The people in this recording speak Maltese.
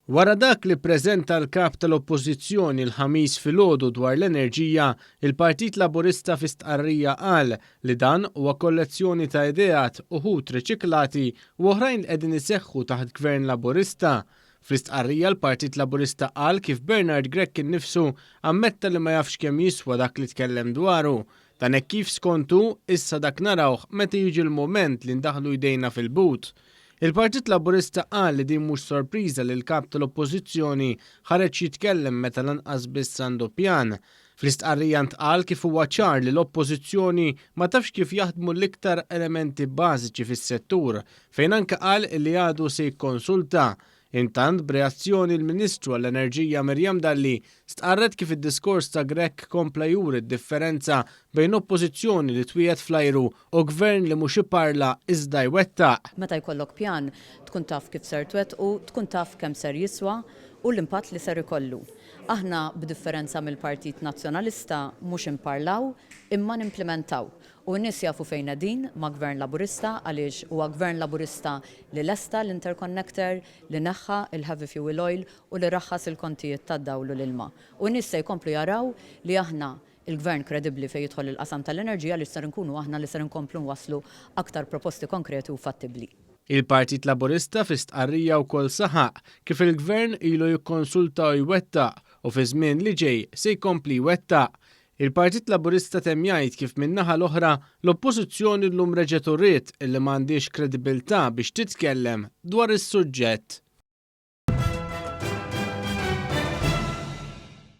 Wara dak li ppreżenta l-Kap tal-Oppożizzjoni l-Ħamis filgħodu dwar l-enerġija, il-Partit Laburista fi stqarrija qal li dan huwa kollezzjoni ta' ideat, uħud riċiklati u oħrajn li qegħdin iseħħu taħt Gvern Laburista. Fl-istqarrija l-Partit Laburista qal kif Bernard Grech innifsu ammetta li ma jafx kemm jiswa dak li tkellem dwaru Dan hekk kif skont hu, issa dak narawh meta jiġi l-mument li ndaħħlu jdejna fil-but. Il-Partit Laburista qal li din mhux sorpriża li l-Kap tal-Oppożizzjoni ħareġ jitkellem meta lanqas biss għandu pjan. Fl-istqarrija ntqal kif huwa ċar li l-Oppożizzjoni ma tafx kif jaħdmu l-iktar elementi bażiċi fis-settur fejn anke qal li għadu se jikkonsulta Intant, b'reazzjoni l-Ministru għall-Enerġija Miriam Dalli stqarret kif id-diskors ta' Grech kompla juri d-differenza bejn oppożizzjoni li twiegħed fl-ajru u Gvern li mhux iparla iżda jwettaq. Meta jkollok pjan, tkun taf kif ser twettqu, tkun taf kemm ser jiswa u l-impatt li ser ikollu. Aħna, b'differenza mill-Partit Nazzjonalista, mhux inparlaw imma nimplimentaw. U n-nies jafu fejn qegħdin ma' Gvern Laburista għaliex huwa Gvern Laburista li lesta l-interconnector, li neħħa l-heavy fuel oil u li raħħas il-kontijiet tad-dawl u l-ilma. U n-nies se jkomplu jaraw li aħna l-Gvern kredibbli fejn jidħol il-qasam tal-enerġija għaliex ser inkunu aħna li ser inkomplu nwasslu aktar proposti konkreti u fattibbli. Il-Partit Laburista fi stqarrija wkoll saħaq kif il-Gvern ilu jikkonsulta u jwettaq u fiż-żmien li ġej se jkompli jwettaq. Il-Partit Laburista temm jgħid kif min-naħa l-oħra, l-Oppożizzjoni llum reġgħet uriet illi ma għandhiex kredibiltà biex titkellem dwar is-suġġett.